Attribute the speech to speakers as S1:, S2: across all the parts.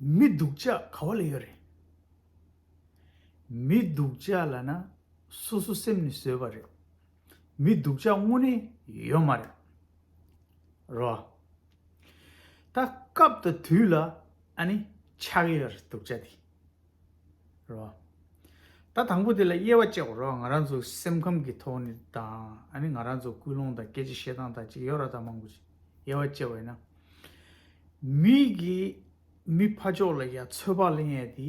S1: མི་སྡུག་ཅག་ག་བ་ལ་ཡོད་རེད། མི་སྡུག་ཅག་ལ་ན་སོ་སོ་སེམས་ནས་བཟོས་པ་རེད། མི་སྡུག་ཅག་དངོས་གནས་ཡོད་མ་རེད། རོ། ད་སྐབས་དང་དུས་ལ་ཨ་ནི་ཆགས་ཡོད་རེད་སྡུག་ཅག་དེ། རོ། ད་དང་པོ་དེ་ལ་དབྱེ་བ་དཔྱད་གོ་རོགས་ང་རང་ཚོ་སེམས་ཁམས་ཀྱི་ཐོག་ནས་དང་ང་རང་ཚོ་ཀུན་སློང་དང་སྐད་ཆ་བཤད་སྟངས་དག་ཅིག་ཡོད་ར་ད་མང་པོ་ཅིག་དབྱེ་བ་དཔྱད་བས་ན། མི་གི་མི་ཕ་ཕྱོགས་ལ་ཡ་ཚོད་དཔག་གླེང་ཡས་དེ་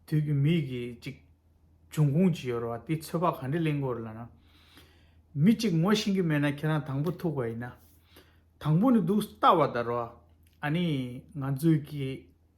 S1: དུས་ཀྱི་མི་གི་ཅིག་འབྱུང་ཁུངས་ཅིག་ཡོད་ར་བ་དེ་ཚོད་དཔག་ག་འདྲེ་གླེང་གོ་ར་ལ་ན། མི་ཅིག་ངོ་ཤེས་ཀྱི་མེད་ན་ཁྱེད་རང་དང་པོ་ཐུག་པ་ཡིན་ན། དང་པོ་ནས་འདུག་བལྟ་བ་ད་རོགས་ཨ་ནི་ང་ཚོའི་གི།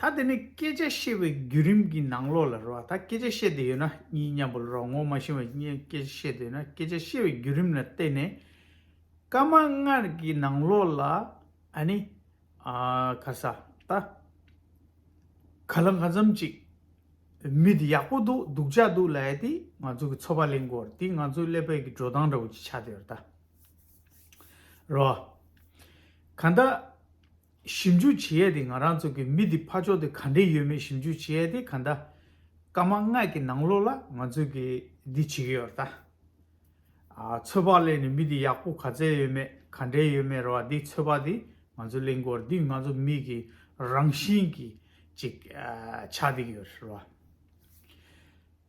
S1: ད་དེ་ནས་སྐད་ཆ་བཤད་པའི་བརྒྱུད་རིམ་གྱི་ནང་ལོགས་ལ་རོལ་བ་ད་སྐད་ཆ་བཤད་འདོད་ཡོད་ན་གཉིས་མཉམ་པོ་ལ་རོགས་ངོ་མ་ཤེས་པ་གཉིས་སྐད་ཆ་བཤད་འདོད་ན་སྐད་ཆ་བཤད་པའི་བརྒྱུད་རིམ་ལ་བལྟས་ནས། སྐར་མ་ལྔར་གྱི་ནང་ལོགས་ལ་ཨ་ནི། ག་ས་ད། ག་ལ་འགའ་འཛོམས་ཅིག། མི་འདི་ཡག་པོ་འདུག་སྡུག་ཅག་འདུག་ལ་ཡ་དེ་ང་ཚོ་གི་ཚོ་པ་གླེང་སྐོར་དེ་ང་ཚོ་ཀླད་པད་ཀྱི་འགྲོ་སྟངས་འདྲ་བོ་ཅིག་ཆགས་འདོད་ཡོད་ད་རོགས། གང་ལྟ། ཞིབ་འཇུག་བྱེད་ཡས་དེ་ང་རང་ཚོ་གི་མི་དེ་ཕ་ཕྱོགས་དེ་ག་འདྲེ་ཡོད་མེད་ཞིབ་འཇུག་བྱེད་ཡས་དེ་ག་འདྲ། ཀ་མ་སྔགས་ཀྱི་ནང་ལོགས་ལ་ང་ཚོ་གི་འདི་བྱེད་ཀྱི་ཡོད་རྟ། ཚོད་དཔག་གླེང་ནས་མི་དེ་ཡག་པོ་ག་ཚད་ཡོད་མེད་ག་འདྲེ་ཡོད་མེད་ར་བ་དེ་ཚོད་དཔག་དེ་ང་ཚོ་གླེང་དགོས་ར་དེ་ང་ཚོ་མི་གི་རང་བཞིན་གི་ཅིག་ཆགས་དེ་གི་ཡོད་ར་བ།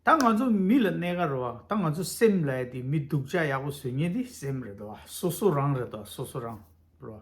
S1: ད་ང་ཚོ་མི་ལ་གནས་ག་ར་བ་ད་ང་ཚོ་སེམས་ལ་ཡས་དེ་མི་སྡུག་ཅག་ཡག་པོ་བཟོས་ངེས་དེ་སེམས་རེད་དོ་བ་སོ་སོ་རང་རེད་དོ་བ་སོ་སོ་རང་ར་བ།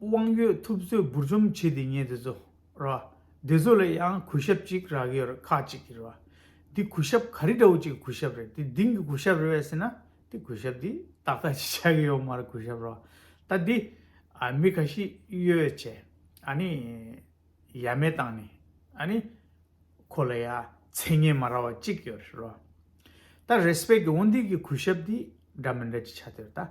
S1: དབང་ཡོད་ཐུབ་ཚོད་འབུར་འཇོམས་བྱས་ཏེ་ཉལ་དེ་ཚོ་ར། དེ་ཚོ་ལ་ཡང་གུས་ཞབས་ཅིག་རག་གི་ཡོད་རེད་ཁག་ཅིག་གིས་རེད་བ། འདི་གུས་ཞབས་ག་རི་འདྲ་བོ་ཅིག་གི་གུས་ཞབས་རེད་དེ་དེང་གི་གུས་ཞབས་རེད་བས་ཟེར་ན་དེ་གུས་ཞབས་འདི་ཏག་ཏག་ཅིག་ཆགས་ཀྱི་ཡོད་མ་རེད་གུས་ཞབས་ར། ད་འདི། མི་ག་ཤིས་གཡོ་ཡོད་ཆེ། ཨ་ནི། ཡ་མེད་བཏང་ནི། ཨ་ནི། ཁོ་ལ་ཡ། མཚན་སྙན་མ་ར་བ་ཅིག་ཡོད་རེད་ར། ད་རེས་པས་ཀྱི་འོ་འདི་གི་གུས་ཞབས་འདི་འདྲ་མི་འདྲ་ཅིག་ཆགས་ཏེ་རེད་ད།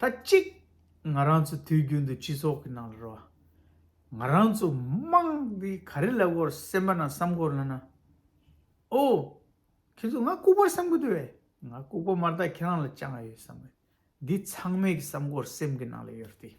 S1: ད་གཅིག་ང་རང་ཚོ་དུས་རྒྱུན་དུ་སྤྱི་ཚོགས་ཀྱི་ནང་ལ་རོལ་བ། ང་རང་ཚོ་དམངས་འདི་ག་རེ་ལ་དབོར་སེམས་པ་ན་བསམ་གོ་ལ་ན། ཨོ། ཁྱོད་ཚོ་ང་ལྐུག་པར་བསམ་གི་འདུག་བས། ང་ལྐུག་པ་མ་རྟགས་ཁྱེད་རང་ལ་བཅངས་ཡོད་བསམ། འདི་ཚང་མས་ཀྱི་བསམ་གོ་སེམས་ཀྱི་ནང་ལ་ཡོད་རེད།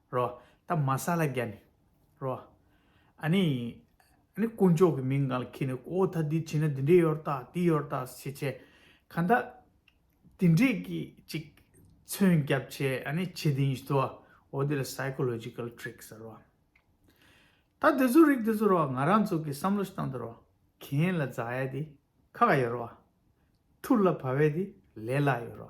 S1: རོ། ད་མ་ས་ལ་རྒྱ་ནི། རོ། ཨ་ནི། ཨ་ནི་དཀོན་མཆོག་གི་མིང་གང་ལ་ཁྱེད་ནི་ཨོ་ད་འདི་བྱིན་ན་འདི་འདྲས་ཡོར་དག་འདི་ཡོར་དག་ཞེས་བྱས། གང་དག། དེ་འདྲས་ཀྱི་ཅིག། མཚོན་རྒྱབ་བྱས་ཨ་ནི་བྱེད་དེ་ཡིན་ཞེས་དོ། འོ་དེ་ལ Psychological Tricks རོ། ད་དེ་ཚོ་རིགས་དེ་ཚོ་རོ་ང་རང་ཚོ་གིས་བསམ་བློ་ཞིག་བཏང་དུ་རོ། གྱེན་ལ་འཛག་ཡས་དེ་ཁ་ག་ཡོར་རོ། ཐུར་ལ་བབས་ཡས་དེ་ལས་ལ་ཡོར་རོ།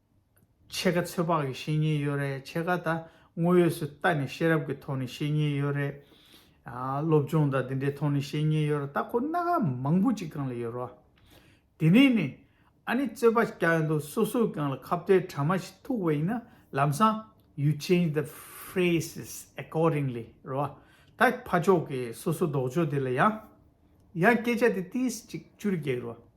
S1: ཕྱེད་ཀ་ཚོད་དཔག་གི་བཤེས་གཉེན་ཡོད་རེད་ཕྱེད་ཀ་ད་དངོས་ཡོད་སུ་ལྟ་ནས་ཤེས་རབ་ཀྱི་ཐོག་ནས་བཤེས་གཉེན་ཡོད་རེད། སློབ་སྦྱོང་དང་དེ་འདྲའི་ཐོག་ནས་བཤེས་གཉེན་ཡོད་རེད་ད་ཁོ་སྣ་ག་མང་པོ་ཅིག་གང་ལ་ཡོད་རོགས། དེ་ནས་ནི། ཨ་ནི་རྩོད་པ་ཅིག་ཀྱང་ཡོད་འདུག་སོ་སོས་ཀྱང་ལ་ཁ་བརྡའི་དྲ་མ་ཞིག་ཐུག་པ་ཡིན་ན་ལམ་སང། you change the phrases accordingly རོགས། ད་ཕ་ཕྱོགས་ཀྱི་སོ་སོ་ལྡོག་ཕྱོགས་དེ་ལ་ཡང། ཡང་སྐད་ཆ་དེ་ཏིས་གཅིག་གཅུར་རྒྱག་རོགས།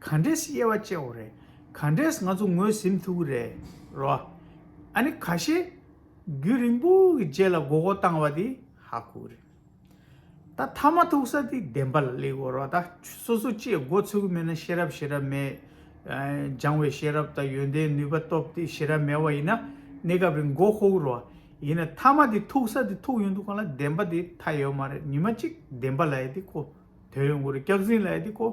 S1: ག་འདྲས་དབྱེ་བ་ཅེ་བོ་རེད། ག་འདྲས་ང་ཚོ་ངོས་ཟིན་ཐུབ་ཀྱི་རེད་རོ། ཨ་ནི་ག་ཤེད། རྒྱུན་རིང་པོ་གི་རྗེས་ལ་དགོ་དགོ་བཏང་བ་དེ་ཧ་གོ་རེད། ད་མཐའ་མ་ཐུག་ས་དེ་བདེན་པ་ལ་སླེབས་དགོས་རོགས་ད་སོ་སོ་ཅེས་མགོ་འཚོས་ཀྱི་མེད་ན་ཤེས་རབ་ཤེས་རབ་མེད། སྦྱང་བའི་ཤེས་རབ་དང་ཡོན་ཏན་ནུས་པ་སྟོབས་དེ་ཤེས་རབ་མེད་བ་ཡིན་ན་གནས་སྐབས་རིང་མགོ་ཧོ་གི་རོགས། ཡིན་ན་མཐའ་མ་དེ་ཐུག་ས་དེ་ཐུག་ཡོང་དུས་གང་ལ་བདེན་པ་དེ་མཐའ་ཡོད་མ་རེད་ཉི་མ་གཅིག་བདེན་པ་ལ་ཡེ་དེ་གོ་དོན་ཡོང་གི་རེད་སྐྱག་རྫིན་ལ་ཡེ་དེ་གོ།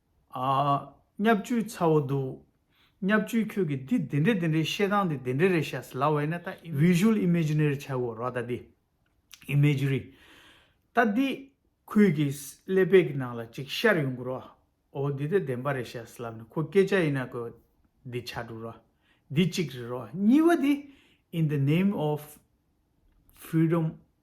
S1: ཨ། སྙབ་བཅུའི་ཚ་བོ་འདུག། སྙབ་བཅུའི་ཁྱོད་ཀྱིས་འདི་དེ་འདྲའི་དེ་འདྲའི་བཤད་སྟངས་དེ་དེ་འདྲའི་རེད་བཤད་སྲིད་ལ་བས་ན་ད། Visual Imaginary བྱ་དགོས་རོགས་ད་འདི། Imagery། ད་འདི། ཁོས་ཀྱིས་ཀླད་པའི་གི་ནང་ལ་གཅིག་ཤར་ཡོང་དགོས་རོགས། འོ་འདི་ད་བདེན་པ་རེད་བཤད་སྲིད་ལབ་ནས་ཁོ་སྐད་ཆ་ཡིན་ན་ཁོས། འདི་བྱ་འགྲོ་རོགས། འདི་གཅིག་རེད་རོགས་གཉིས་པ་འདི། In the name of Freedom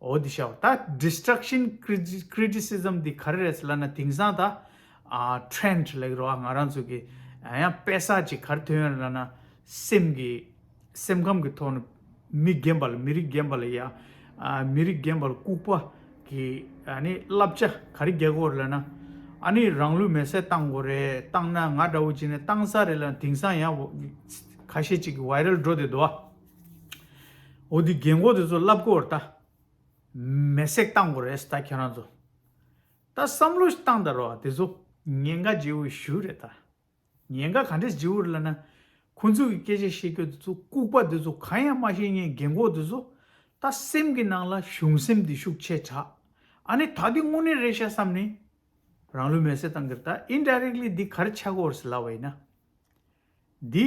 S1: འོ་དེ་ཤའོ་ད Destruction Criticism འདི་ག་རེ་རེད་ཟེར་ལབ་ན་དེང་སང་ད Trend ལེགས་རོགས་ཨ་ང་རང་ཚོ་གི་ཡང་དཔེ་ས་ཅིག་གར་ཐོན་ཡོད་ལབ་ན་སེམས་ཀྱི་སེམས་ཁམས་ཀྱི་ཐོག་ནས་མི་རྒན་པ་ལ་མི་རིགས་རྒན་པ་ལ་ཡ་མི་རིགས་རྒན་པ་ལ་ལྐུགས་པ་གི་བསླབ་བྱ་ག་རེ་རྒྱག་དགོས་རེད་ལབ་ན་ཨ་ནི་རང་ལུས་མེར་སྲེག་བཏང་དགོས་རེད་བཏང་ན་ང་འདྲ་བོ་ཅིག་ནས་བཏང་ས་རེད་ལབ་ན་དེང་སང་ཡང་ག་ཤེད་ཅིག་གི Viral འགྲོ་བསྡད་འདུག་ཨ། འོ་དེ་རྒན་གོག་དེ་ཚོ་བསླབ་གོ་རེད་ད། མེ་བསྲེགས་བཏང་གོ་རེད་ད་ཁྱེད་རང་ཚོ། ད་བསམ་བློ་ཞིག་བཏང་ད་རོགས་དེ་ཚོ་ཉེན་ཁ་འཇིགས་འོས་ཞུ་རེད་ད། ཉེན་ཁ་ག་འདྲས་འཇིགས་འོས་ལ་ན། ཁོང་ཚོ་གི་སྐད་ཆ་བཤད་རྒྱུ་དེ་ཚོ་ལྐུག་པ་དེ་ཚོ་གང་ཡང་མ་ཤེས་ངན་རྒན་གོག་དེ་ཚོ། ད་སེམས་ཀྱི་ནང་ལ་གཞུང་སེམས་དེ་ཤུགས་ཆེ་དྲགས། ཨ་ནི་ད་དེ་དངོས་གནས་རེད་ཤག་བསམ་ནི། རང་ལུས་མེ་བསྲེགས་བཏང་གི་རེད་ད indirectly དེ་ག་རེ་བྱ་གོ་རེད་ལབ་བ་ཡིན་ན། དེ།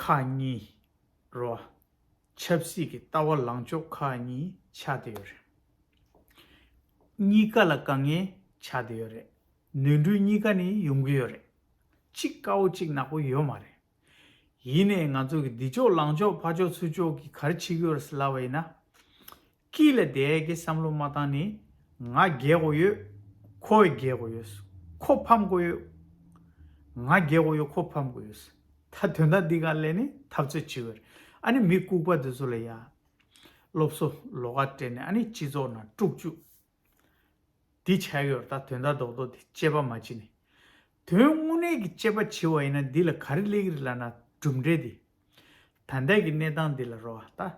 S1: ཁག་གཉིས་རོ། ཆབ་སྲིད་ཀྱི་ལྟ་བ་ལངས་ཕྱོགས་ཁག་གཉིས་ཆགས་བསྡད་ཡོད་རེད། གཉིས་ཀ་ལ་དཀའ་ངལ་ཆགས་བསྡད་ཡོད་རེད། ནོན་འཁྲུལ་གཉིས་ཀ་ནི་ཡོང་གི་ཡོད་རེད། གཅིག་དཀའ་བོ་གཅིག་ནག་པོ་ཡོད་མ་རེད། ཡིན་ནས་ང་ཚོ་གི་འདི་ཕྱོགས་ལངས་ཕྱོགས་ཕར་ཕྱོགས་ཚུར་ཕྱོགས་ཀྱི་གར་ཆིག་ཡོར་སི་ལ་བ་ཡིན་ན། སྐྱིད་ལ་དད་ཀྱི་བསམ་བློ་མ་བཏང་ནི། ང་རྒས་དགོས་ཡོད། ཁོ་རྒས་དགོས་ཡོད། ཁོ་ཕམ་དགོས་ཡོད། ང་རྒས་དགོས་ཡོད་ཁོ་ཕམ་དགོས་ཡོད། ད་དོན་དག་འདི་ག་ལས་ནི་འཐབ་རྩོད་བྱེད་འོས། ཨ་ནི་མི་ལྐུགས་པ་འདི་ཚོ་ལ་ཡ། སློབ་གསོ་ལོ་ག་སྤྲད་ནས་ཨ་ནི་སྤྱི་ཚོགས་ནང་དཀྲུགས་བཅུག། འདི་བྱ་ཡོར་ད་དོན་དག་རྡོག་རྡོག་འདི་དཔྱད་པ་མ་བྱེད་ནི། དོན་དངོས་གནས་ཀྱི་དཔྱད་པ་བྱེད་བ་ཡིན་ན་འདི་ལ་ག་རེ་གླེགས་རི་ལ་ན་གྲུབ་འབྲས་འདི། ད་ལྟའི་གི་གནས་སྟངས་འདི་ལ་རོ་ཨ་ད།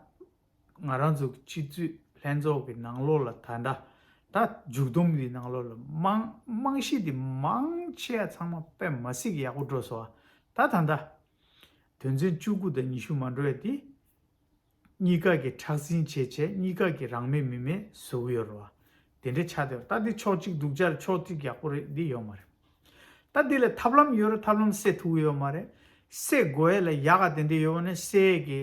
S1: ང་རང་ཚོ་སྤྱི་འཐུས་ལྷན་ཚོགས་ཀྱི་ནང་ལོགས་ལ་ད་ལྟ་ད་མཇུག་བསྡོམས་འདིའི་ནང་ལོགས་ལ་དམངས་དམངས་གཞི་འདི་མང་ཆེ་བ་ཚང་མ་པད་མ་སིག་ཡག་པོ་འགྲོ་སོང་བ་ད་ད་ད། དོན་ཚན་བཅུ་དགུ་དང་ཉི་ཤུ་མ་འགྲོ་བའི་འདི། གཉིས་ཀ་གི་ཁྲག་འཛིན་བྱས་བྱས་གཉིས་ཀ་གི་རང་མེད་མི་མེད་བཟོ་གི་ཡོད་རེད་བ། དེ་འདྲའི་ཆ་དེ་བ་ད་འདི་ཕྱོགས་གཅིག་སྡུག་ཅར་ཕྱོགས་གཅིག་ཡག་པོ་རེད་འདི་ཡོད་མ་རེད། ད་འདི་ལ་ཐབས་ལམ་ཡོད་རེད་ཐབས་ལམ་སེ་ཐུག་གི་ཡོད་མ་རེད། སེ་དགོས་ཡས་ལ་ཡག་ག་དེ་འདྲའི་ཡོད་བ་ནི་སེ་གི་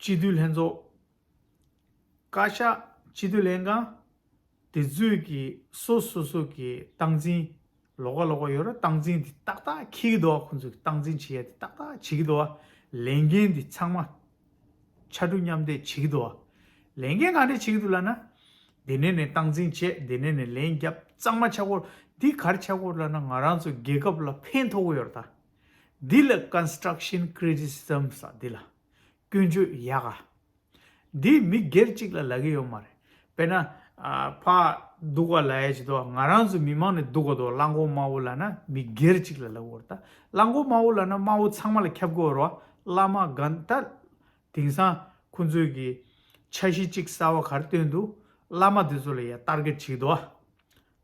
S1: སྤྱི་འཐུས་ལྷན་ཚོགས། བཀའ་ཤག་སྤྱི་འཐུས་ལྷན་ཁང། དེ་ཚོས་ཀྱི་སོ་སོ་སོ་གི་སྟངས་འཛིན། ལོག་ག་ལོག་ག་ཡོད་རུང་སྟངས་འཛིན་དེ་ཏག་ཏག་འཁེལ་གི་འདུག་བ་ཁོ་ཚོས་ཀྱི་སྟངས་འཛིན་བྱེད་ཡ་དེ་ཏག་ཏག་བྱེད་ཀྱི་འདུག་བ། ལས་འགན་དེ་ཚང་མ། ཕྱར་གྲུ་མཉམ་འདེགས་བྱེད་ཀྱི་འདུག་བ། ལས་འགན་གང་འདྲས་བྱེད་ཀྱི་འདུག་ལ་ན། དེ་ནས་ནས་སྟངས་འཛིན་བྱས་དེ་ནས་ནས་ལན་རྒྱབ་གཙང་མ་ཆག་གོ། དེ་གར་ཆག་གོ་ལ་ན་ང་རང་ཚོ་རྒྱལ་ཁབ་ལ་ཕན་ཐོག་གི་ཡོད་ར་ད། འདི་ལ Construction Criticism ས་འདི་ལ། སྐྱོན་བརྗོད་ཡ་ག། འདི་མི་སྒེར་གཅིག་ལ་ལ་གི་ཡོད་མ་རེད། དཔེར་ན། ཕ། སྡུག་བ་ལ་ཡ་ཇི་ཏོ་ང་རང་ཚོ་མི་མང་ནས་སྡུག་བ་ཏོ་གླང་མགོ་དམར་བོ་ལ་ན་མི་སྒེར་གཅིག་ལ་ལ་གི་འོར་ད་གླང་མགོ་དམར་བོ་ལ་ན་དམར་བོ་ཚང་མ་ལ་ཁྱབ་གི་འོར་བ་བླ་མ་གང་ད། དེང་སང་ཁོང་ཚོས་གི། འཆར་གཞི་གཅིག་གསར་བ་གར་བཏོན་འདུག་བླ་མ་དེ་ཚོ་ལ་ཡ་བསྟར་གི་བྲིས་ཏོ།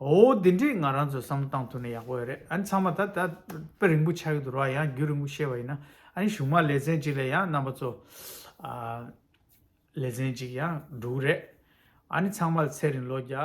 S1: འོ་དེ་འདྲས་ང་རང་ཚོས་བསམ་བློ་བཏང་ཐུབ་ན་ཡག་པོ་ཡོད་རེད་ཨ་ནི་ཚང་མ་ད་ད་དཔེ་རིང་པོ་ཆགས་ཀྱི་འདུག་རོགས་ཡང་རྒྱུས་རིང་པོ་བཤད་པ་ཡིན་ན་ཨ་ནི་གཞུང་མང་ལེ་ཚན་གཅིག་ལ་ཡང་རྣམ་པ་ཚོ་ལེ་ཚན་གཅིག་ཡང་འགྲོ་གི་རེད་ཨ་ནི་ཚང་མ་ལ་ཚེ་རིང་ལོ་བརྒྱ།